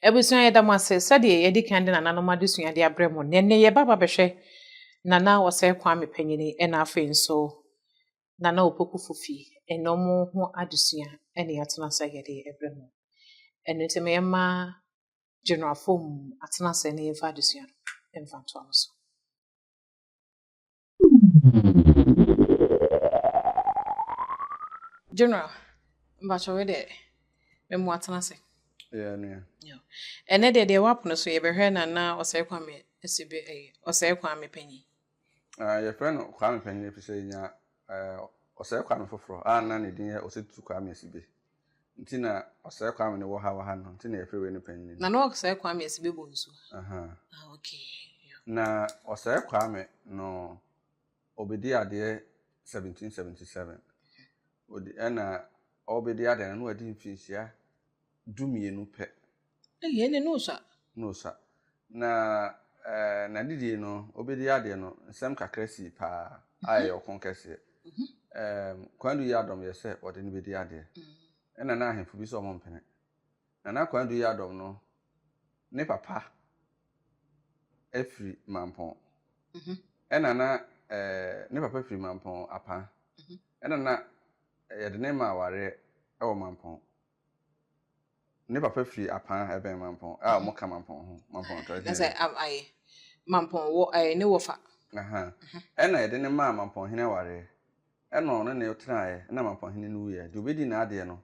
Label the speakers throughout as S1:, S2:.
S1: Abusua yɛda mo ase sɛdeɛ yɛadi kan de nananom adesua de abrɛ mo nnɛ. Nnɛ yɛba abɛhwɛ Nana Ɔsɛe Kwame Panyini ɛna afei nso Nana Opoku Fufi ɛna ɔmo ho adesua ɛne yɛatena sɛ yɛde ɛbrɛ mo. Ɛno nti ma yɛma General Afom atena sɛ na yɛmfa adesua no ɛmfa ntoa mo so. General, mpakyɛ wei deɛ memu atena ase. Yeah, nua.
S2: Yeah. Ɛnɛ
S1: deɛ deɛ wap no so yɛbɛhwɛ na na ɔsɛe kwame asi bi ɛyɛ eh, ɔsɛe kwame panyin. Uh, yɛfrɛ
S2: no kwame panyin ɛfiri sɛ yɛnya uh, ɔsɛe kwame foforɔ a na ne din yɛ ɔsɛtu kwame asi bi. Nti na ɔsɛe kwame no wɔ ha wɔ ha no nti na yɛfrɛ wei no panyin no. Na na ɔsɛe kwame ɛsi
S1: bɛbɔ nsu. Ah okay. Na
S2: ɔsɛe kwame no ɔbɛdi adeɛ 1777 ɔdi ɛna ɔbɛdi adeɛ no na wadi mfinhyia du mmienu pɛ. Ei, ɛnde na
S1: ɔsua. Na ɔsua.
S2: Na n'adedie no, ɔbɛdii adeɛ no, nsɛm kakra sii paa a ɛyɛ ɔko kɛseɛ. Kwadu yɛ adɔm yɛ sɛ ɔde no bɛdi adeɛ. Ɛna na ahemfo bi sɛ ɔmo mpene. Na na Kwadu yɛ adɔm no, ne papa firi Mampɔn. Ɛna na ne papa firi Mampɔn Apaa. Ɛna na yɛde ne maa awareɛ wɔ Mampɔn. Ne papa firi Apan a ɛbɛn Mampɔn a wɔka Mampɔn ho, Mampɔn Atra Dee. Na sɛ ab ayɛ
S1: Mampɔn wɔ ɛɛ ne wɔfa. Aha. Ɛna
S2: yɛde no maa Mampɔn hene awareɛ. Ɛna ɔne no tenaeɛ na Mampɔn hene no wuiɛ. Deɛ ɔbɛdii n'adeɛ no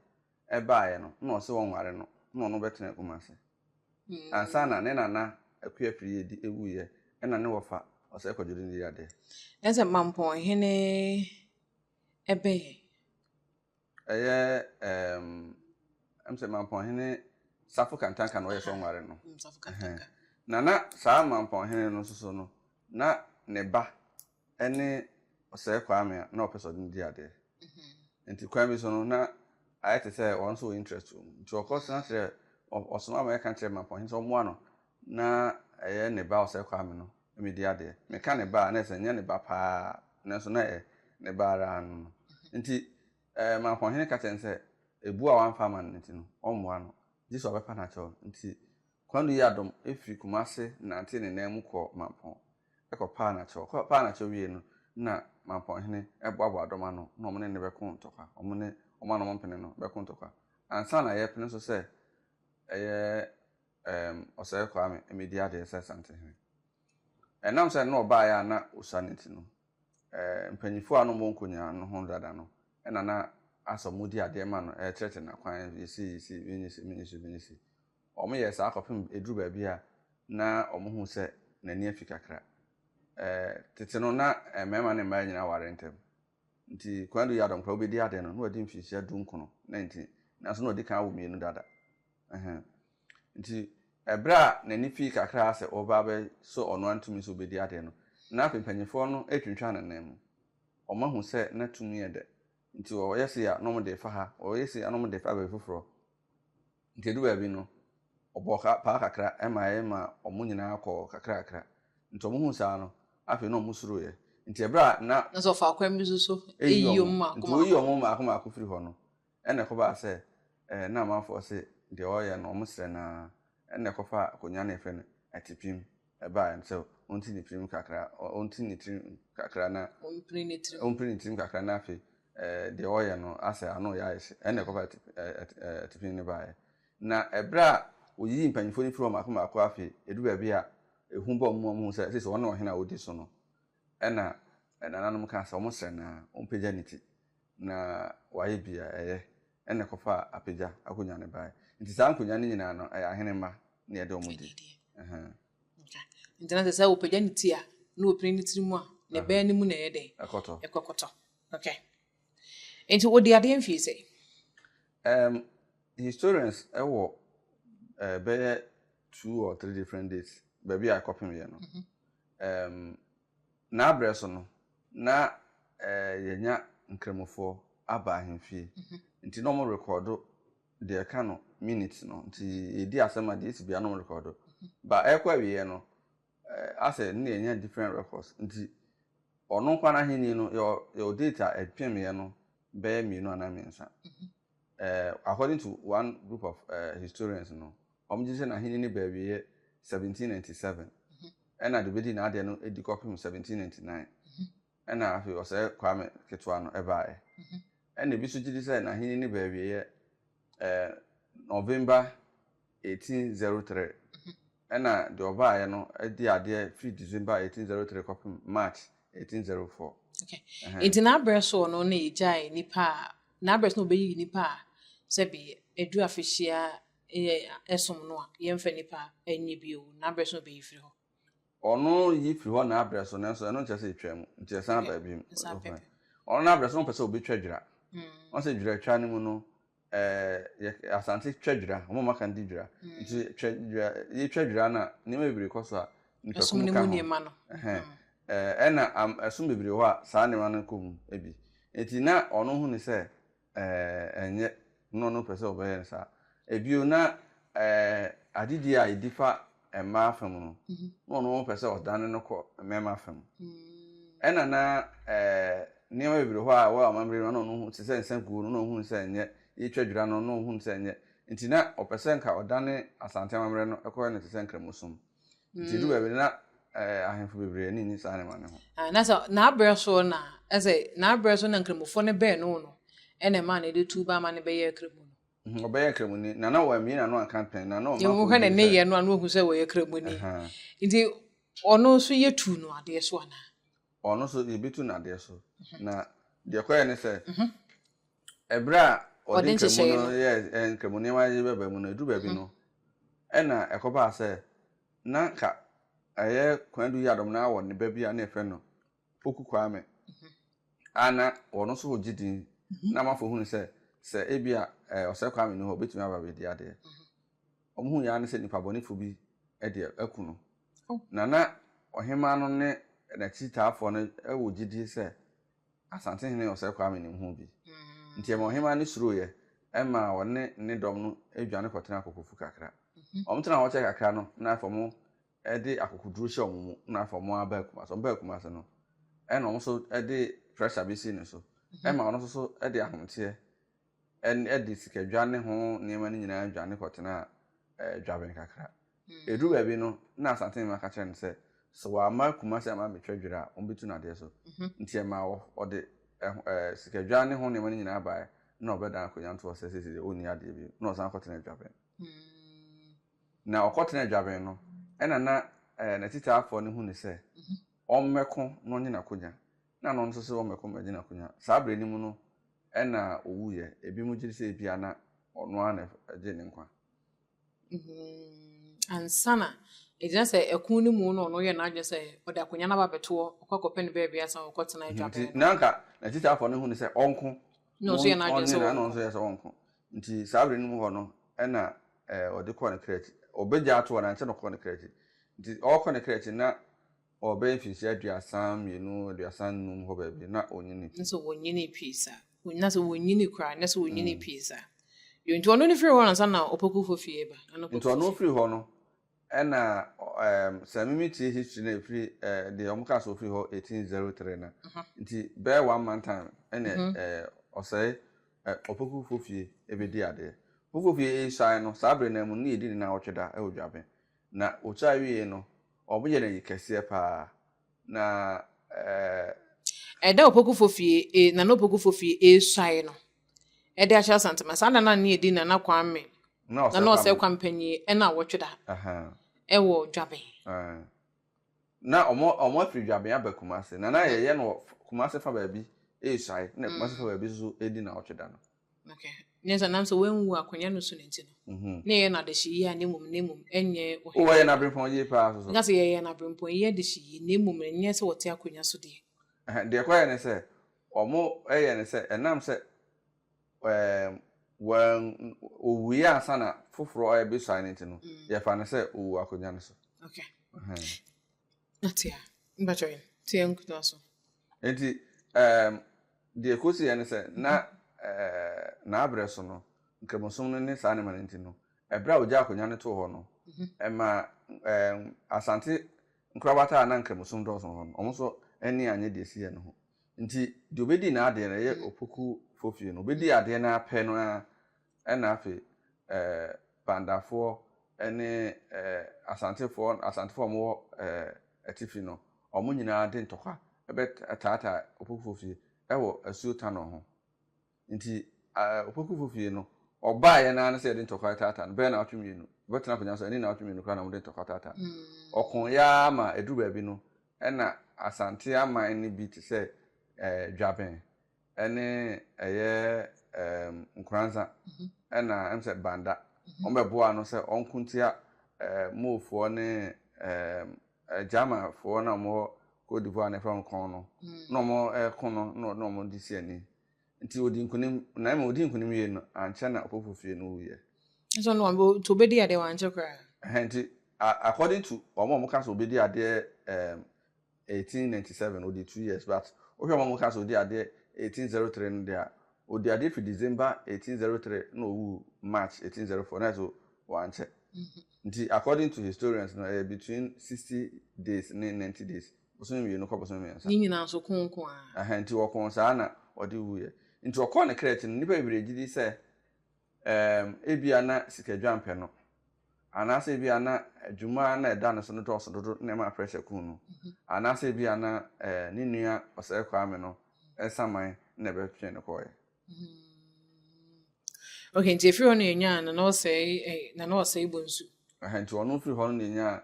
S2: baeɛ no na ɔse wɔnware no na ɔno bɛtena Kumase. Ansa na ne nana Akua Piriyedi wuiɛ ɛna ne wɔfa Ɔsɛe Kwadwodin dii adeɛ. Na sɛ Mampɔn
S1: hene ɛbɛn.
S2: Ɛyɛ ɛɛm ɛm sɛ Mampɔnhene Safo Kantanka na ɔyɛ sɛ ɔnware no. Mm, Safo Kantanka. Ɛhɛn.
S1: Na na saa
S2: Mampɔnhene no nso so no, na ne ba ne Ɔsɛe Kwame a na ɔpɛ sɛ ɔde no di adeɛ. Mm-hmm. Nti kwan bi so no, na ayɛ te sɛ wɔn nso wɔ interest wɔ mu. Nti ɔkɔ sena kyerɛ, ɔsoma ma yɛka kyerɛ Mampɔnhene sɛ ɔmmoa no Na ɛyɛ ne ba Osei Kwame no me di adeɛ. Me ka ne ba a na ɛsɛ nyɛ ne ba paa nanso na ɛyɛ ne ba ara no no nti ɛɛ Mankɔhene ka kyerɛ no sɛ ebu a wamfa ama no nti no ɔmmoa no gye sɛ ɔbɛpa no akyɛw no nti Kwadu yi adom firi Kumase nantee ne nan mu kɔɔ Mampɔn kɔ paa no akyɛw ɔkɔ paa no akyɛw wiei no na Mampɔnhene boaboa dɔm ano na wɔn ne no bɛko ntɔkwa wɔn ne wɔn a na wɔmpene no bɛko ntɔkwa ansa na yɛrepene nso sɛ ɛyɛ Erm Ɔsɛe Kwame, medi adeɛ sɛ Asantehene. Ɛnam sɛ na ɔbaeɛ a na ɔsua no nti no, erm mpanyinfoɔ a na wɔwɔ nkonyaa no ho dada no na na asɔ wɔn di adeɛ ma no, rekyerɛkyerɛ no akwan, yɛ sei, yɛ sei, wei nyɛ sei, wei nyɛ sei, wei nyɛ sei. Wɔyɛɛ saa kɔpem ɛduru baabi a na wɔhunu sɛ n'ani afi kakra. Erm tete no na mmarima ne mmaa nyinaa ware ntɛm. Ntsi Kwadu yɛ adɔnkora, obedii adɛn no, nna ɔadzi mfirhyia dunkron, na ntsi, naaso nna ɔdzi kan awo mienu dada. Ahem. Ntsi, ber a n'enyi fii kakra ara sɛ ɔreba abɛhyɛ ɔno ara no tum sɛ obedzi adɛn no, nna afei mpanyimfoɔ no retwentweɔn ne nan mu. Wɔahu sɛ na tum yɛ dɛ, ntsi wɔyɛ sei a, nna wɔde refa ha, wɔyɛ sei a, nna wɔde refa baabi foforɔ. Nti edu baabi no, ɔbɔɔ ka paa kakra ma ɛyɛ ma wɔn nyinaa kɔɔ kakrakra. Nti wɔhuu saa no, afei na wɔsuroeɛ. Nti ɛberɛ a na. Na sɛ ɔfa kwan bi so so,
S1: ɛyi wɔn mmaako mmaako. Nti wɔyii wɔn mmaako mmaako
S2: firii hɔ no, ɛnna ɛkɔbaa sɛ na amanfoɔ se deɛ wɔreyɛ no, wɔsrɛ no ara, ɛnna ɛkɔfa akonnwa no a yɛfrɛ no atipem ɛbae no sɛ onti ne tirim kakra, onti ne tirim kakra na. Ompiri ne tirim. Ompiri ne tirim kakra na afei ɛɛ deɛ ɔyɛ no asɛ ano yɛ ayɛ hye. Ɛna ɛkɔfa ɛte ɛɛ ɛtepini no baeɛ. Na ɛberɛ a wɔyiyii mpanimfoɔ no firii hɔ mmaako mmaako afei ɛduru baabi a ehu bɔɔ wɔn ma wɔhuu sɛ seisei wɔn na ɔhene a ɔdi so no Ɛnna nananom kaa sɛ wɔsrɛ no ara ompagya ne ti, na wayɛ bi a ɛyɛ. Ɛnna ɛkɔfaa apagya akonnwa no bae. Enti saa nkonnwa no nyinaa no, ɛyɛ ahene mma na ɛde wɔn di. Enti
S1: na sɛ sɛ wɔpagya ne ti a, na wɔpini ne tiri mu a, ne bɛn no mu na ɛyɛ dɛn? Ɛkɔtɔ. Ɛkɔkɔtɔ. Okay. Enti wɔdi adeɛ mfie sɛ? Um,
S2: historians ɛwɔ uh, eh, bɛyɛ two or three different dates baabi a ɛkɔpem yɛ no. Mm -hmm. Erm, n'aberɛ so no, na eh, yɛnya Nkramofoɔ aba ahemfie, nti na wɔn rekɔɔdo deɛ ɛka no minutes no, nti yɛdi asɛm a deɛ ɛsi biara na wɔn rekɔɔdo. Ba ɛrekɔ awieɛ no, eh, asɛ ne yɛnya different records, nti ɔno nkoa no ahennie no, yɛwɔ, yɛwɔ date a ɛpemeeɛ no bɛyɛ mmienu anaa mmiɛnsa. According to one group of historians no, wɔgye di sɛ n'ahenni no baa awieɛ 1797, ɛna deɛ ɔbɛdii n'adeɛ no di kɔpem 1799, ɛna afei ɔsɛe Kwame ketewa no baeɛ. Ɛna ebi nso gye di sɛ n'ahenni no baa awieɛ November eighteen zero three ɛna deɛ ɔbaeɛ no di adeɛ firi December eighteen zero three kɔpem March eighteen zero four. Okay.
S1: Ɛhɛn. Nti n'abrɛ soɔ no na yɛgyae nnipa a n'abrɛ so na wɔbɛyi nnipa a sɛbi ɛdu afehyia yɛ ɛsom no a yɛmfa nnipa nyɛ bio n'abrɛ so na wɔbɛyi firi hɔ. Ɔno
S2: yi firi hɔ n'abrɛ so nanso ɛno nkyerɛ sɛ ɛtwa mu nti ɛsan ba bio. Ɛsan ba bio. Ɔno n'abrɛ so na ɔpɛ sɛ ɔbɛtwa dwira. Mm. Ɔsɛ dwiratwa no mu no yɛ asante twɛ dwira wɔn a wɔaka no di dwira mm. nti twɛ dwira yɛtwa dwira no a nneɛma bebree kɔ so a nipakum ka ho ɛna ɛsom bebree hɔ a saa nneɛma no kɔ mu bi nti na ɔno hu ne sɛ ɛnyɛ na ɔno pɛ sɛ ɔbɛyɛ no saa ebio na agyedie a ɛdi fa mmaa fa mu no, na ɔno ɔpɛ sɛ ɔdane no kɔ mmarima fa mu. Ɛna na nneɛma bebree hɔ a ɛwɔ amammerɛ no, na ɔno hu te sɛ nsa guo no, na ɔhunu sɛ ɛnyɛ, yɛtwa dwira no, na ɔhunu sɛ ɛnyɛ. Nti na ɔpɛ sɛ nka ɔdane Asante amammerɛ no kɔyɛ no te sɛ Nkramosom. Nti ɛdu baabi no na ahemfo bebree ani nye saa nneɛma no ho. Ah, na sɛ n'abrɛ so
S1: na ɛsɛ n'abrɛ so na Nkramofoɔ no bɛn no no ɛna ɛma no de tu ba ama no bɛyɛ Kramu no. Mhm, ɔbɛyɛ Kramoni,
S2: na na wammie n'ano anka pɛn, na na ɔma Nti wohwɛ ne kɔndii sɛ. nneyɛɛ no a na
S1: wahu sɛ ɔyɛ Kramoni. Aha. Nti ɔno nso yɛtu no adeɛ so anaa? Ɔno nso
S2: yɛbɛtu no adeɛ so. Na deɛ ɛkɔeɛ ne sɛ, ɛberɛ a ɔde Ɔde Nkramu nhyehyɛeɛ no no. yɛɛ ɛ, Nkramu nneɛma yi bɛba mu no, ɛduru baabi no, ɛna ɛkɔbaa sɛ na nka ɛyɛ Kwadu Yiadom no ara wɔ ne ba bi a na yɛfrɛ no Poku Kwame, a na ɔno nso regye din, na amanfoɔ hunu sɛ, sɛ ebia Ɔsɛe Kwame nni hɔ a, ɔbɛtumi aba abɛdi adeɛ. Wɔhunu yɛ ara ne sɛ nipabɔnefoɔ bi de aku no. Na na ɔhemaa no ne n'akyitaafoɔ no wɔ gyidie sɛ Asantehene Ɔsɛe Kwame nim ho bi. Nti ɛmaa ɔhemaa no suroeɛ maa ɔne ne dɔm no dwane kɔtenaa Kokofu kakra. Wɔtena hɔ kyɛɛ kakra no, na afei wɔn de akokoduru hyɛ wɔn mu na afei wɔn abaa Kumasi. Wɔn baa Kumasi no, ɛna wɔn nso de pressure bi sii ne so ma ɔno nso so de ahometeɛ ɛn de sikadwa ne ho nneɛma no nyinaa dwane kɔtenaa ɛɛ dwaben kakra. Ɛduru baabi no, na Asantehene ma ka kyerɛ no sɛ, sɛ wamma Kumasi amma ammɛtwa dwira a, wɔbɛtu no adeɛ so. Nti ɛmaa wɔ ɔde ɛho ɛɛ sikadwa ne ho nneɛma no nyinaa baeɛ na ɔbɛdan akonnwa ntoɔ sɛ seesei deɛ ɔnni adeɛ bio na ɔsan kɔtenaa dwaben. Na ɔkɔtenaa dwabɛn no, ɛnna na n'atitaafoɔ no hu no sɛ ɔmmɛko na ɔnyɛ n'akonya, na ɔno nso sɛ ɔmmɛko mmɛgye n'akonya. Saa berɛ no mu no na ɔwuiɛ. Ebinom gye di sɛ ebia na ɔno ara na ɛgyee ne nkwa.
S1: Ansa na ɛgyina sɛ ɛko no mu no, ɔno yɛɛ n'adwene sɛ ɔde akonya no aba abɛtoɔ, ɔkɔ akɔpɛ no baabi ansa na ɔkɔtena dwabɛn no. Nti na anka n'atitaafoɔ
S2: no hu no sɛ ɔnko na
S1: ɔnyɛ na ɔno nso yɛ sɛ ɔnko.
S2: Nti saa bere no mu hɔ no na ɔde kɔɔ ne kra akyi. Ɔbɛgyaa ato hɔ no, ankyɛ na ɔkɔɔ ne kra akyi. Nti ɔrekɔ ne kra akyi no, na ɔbɛyɛ mfirihyia aduasa mmienu, aduasa nnum hɔ baabi, na ɔnyinii pii. Na sɛ ɔnyinii pii
S1: saa, na sɛ ɔnyinii koraa, na sɛ ɔnyinii pii saa. Nti ɔno no firii hɔ ansa na ɔpɔkufo fie reba. Nti ɔno firii hɔ
S2: no, Ɛna um sɛ me me tie history na ɛfiri eh, deɛ wɔn kaa sɛ ɔfiri hɔ 1803 na nti bɛyɛ one month time ɛna mm -hmm. eh, ɔsɛe eh, ɔpokufoɔ fie ɛbɛdi adeɛ ɔpokufoɔ fie ɛresae no saa berɛ no mu ne yɛdi ne na ɔtwe da ɛwɔ dwaben na ɔkyae wie no wɔyɛ no ayi kɛseɛ paa Na
S1: eh. Ɛda Opokufoɔ fie e Nana Opokufoɔ fie e suae no de ahyɛ Asantema. Saa da no a na yɛdi Nana Kwame, Nana Ɔsɛe Kwame Panyin ɛna awɔtwe da ɛwɔ Dwaben.
S2: Na wɔn afiri Dwaben aba Kumasi. Na na yɛyɛ no wɔ Kumasi fa baabi e suae na Kumasi fa baabi nso di nawɔtwe da no. Ok, nyɛ sɛ
S1: nanso wanwu akonya no so no nti no, mhm. na yɛyɛ no adehye yie a na mmom na mmom ɛnyɛ ɔhene. O wɔyɛ no aberempɔn
S2: yie paa so so. Nka sɛ yɛyɛ no aberempɔn
S1: yie adehye yie na mmom ɛnyɛ sɛ wɔte akonya so deɛ. Ɛhɛn, deɛ ɛkɔyɛ
S2: ne sɛ wɔyɛ ne sɛ ɛnam sɛ ɛɛm wɔn ɔwuiɛ ansa na foforɔ ɛbɛsuae no nti no, mm. yɛfa no sɛ ɔwu akonya no so. Ok. Ɛhɛn.
S1: Na tea. Mpakyɛw yen. Tea nkuta so. Enti
S2: ehm deɛ ɛkɔsiiɛ ne sɛ na eeh n'aberɛ so no nkramosom no ne saa nneɛma no nti no ɛberɛ a ɔgyaa akonnwa no too hɔ no ɛmaa eeh Asante nkorabata a na nkramosom dɔɔso wɔ hɔ no wɔn nso ani annye deɛ ɛsiiɛ no ho nti deɛ ɔbɛdii n'adeɛ no ɛyɛ Opoku foɔ fie no ɔbɛdii adeɛ no ara pɛ no ara ɛna afei eh, Bandafoɔ ne eh, Asantefoɔ, Asantefoɔ a wɔwɔ eh, atifi no, wɔn nyinaa de ntɔkwa bɛtaataa Opokufoɔ fie wɔ asuo Tano ho. Nti eh, Opokufoɔ fie no, wɔbaeɛ no ara ne sɛ yɛde ntɔkwa retaataa no, bɛyɛ naawɔtwe mmienu. Wɔbɛtena akonnwa so, ɛne naawɔtwe mmienu koraa na wɔde ntɔkwa taataa no. Wɔkoeɛ ara ma ɛduru baabi no, ɛna Asante aman no bi te sɛ eh, Dwaben, ɛne ɛyɛ ɛɛm nkoransa ɛna ɛm sɛ banda wɔn bɛ boa no sɛ wɔn kuntia ɛɛ moofoɔ ne ɛɛm ɛgyamafoɔ na wɔn wɔ Cote d'Ivoire na ɛfrɛ wɔn kɔn no na wɔn ɛko no na wɔn wɔn de si ani nti odi nkunim na ɛma odi nkunim yie no ankyɛ na ɔpofo fie no wu yɛ. ɛsɛ no wɔn
S1: to bɛ di adeɛ wɔn ankyɛ koraa. ɛhɛn nti
S2: according to wɔn a wɔn ka sɛ ɔbɛ di adeɛ ɛɛm. eighteen ninety seven ɔdii two years but wohwɛ wɔn a wɔka sɛ ɔdii adeɛ eighteen zero three no deɛ a ɔdii adeɛ firi December eighteen zero three na ɔwu March eighteen zero four na ɛso wankyɛ nti according to historians no ɛyɛ between sixty days ne ninety days bosome mmienu kɔ bosome mmiɛnsa ne nyinaa nso ko nko
S1: ara ɛhɛn nti ɔko
S2: saa na ɔde wuiɛ nti ɔkɔɔ ne kra akyi no nnipa bebree gye di sɛ Ɛɛm, ebia na sikadwampɛ no, anaasɛ ebia na adwuma a na ɛda ne so no dɔɔso dodo na ɛma pressure kuu no. Anaasɛ ebia na ɛɛ ne nua Ɔsɛe Kwame no nsaman na ɛbɛtwee no kɔɔeɛ.
S1: Okay, nti efiri hɔ na yɛnyaa Nana Ɔsɛe, eh, Nana Ɔsɛe Bonsu. Ɛhɛ, nti ɔno firi
S2: hɔ no na yɛnyaa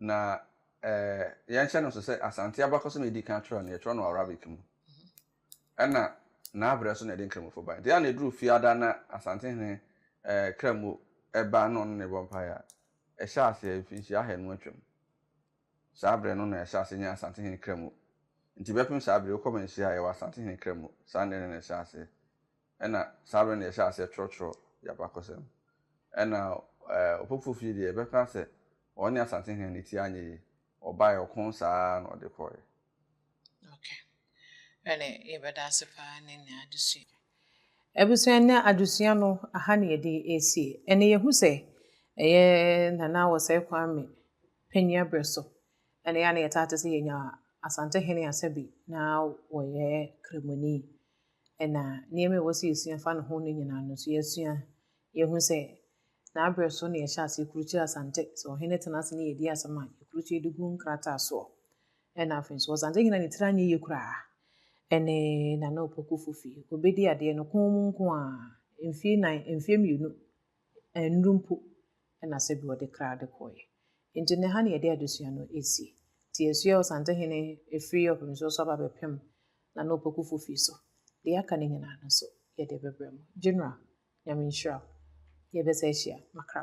S2: Na yɛnhyɛ no nso sɛ Asante abakɔsɛm a edi kan twerɛ no, yɛtwerɛ no Arabic mu, ɛnna n'abrɛ so na yɛde Nkramofo bae. Nti a na ɛduru Fiada na Asantehene Kramu ba na ɔne no rebɔ mpaeɛ a, ɛhyɛɛ aseɛ mfinhyia ahanu atwam. Saa berɛ no na yɛahyɛ aseɛ nya Asantehene Kramu. Nti bɛpem saa berɛ yi, wokɔ manhyia a, yɛwɔ Asantehene Kramu. Saa nna no na ɛhyɛɛ aseɛ. Ɛna saa berɛ no yɛhyɛɛ aseɛ twerɛtwerɛ yɛn abakɔsɛm. Ɛna Opoku fie deɛ yɛbɛka sɛ ɔne Asantehene no ti anyɛ yie. Ɔbaeɛ ɔko saa ara na ɔde kɔeɛ.
S1: Okay. Ɛne yɛbɛda ase paa ne nnɛ adesua. Abusua nnɛ adesua no aha na yɛde ɛresie. Ɛne yɛhu sɛ ɛyɛ Nana Wɔsɛe Kwame panyin aberɛ so ɛne yɛ a na yɛtaa te sɛ yɛnya Asantehene Asabi na wɔyɛ Kramoni. ɛna nneɛma a ɛwɔ sɛ yɛsua fa ne ho no nyinaa no nso yɛasua. Yɛhu sɛ n'abrɛ so na yɛhyɛ ase kurukyerɛ Asante. Sɛ ɔhene tena ase ne yɛdi asɛm a, yɛkurukyerɛ de gu nkrataa soɔ. Ɛna afei nso Ɔsante nyina ne tiri anyɛ yie koraa. Ɛne Nana Opoku Fufi. Ɔbɛdi adeɛ no kɔn mu nko a, mfeɛ nan, mfeɛ mmienu Nnuru mpo na sɛbi ɔde kra de kɔeɛ. Nti no ha na yɛde adesua no sie. Nti yɛasua wɔ Santehene ɛfiri Ɔpemisuo so aba bɛpem Nana Opokufoɔ fie so. Deɛ aka no nyinaa no nso yɛde bɛbrɛ mo. General, Nyame nhyira wo. Yɛbɛsan ahyia makra.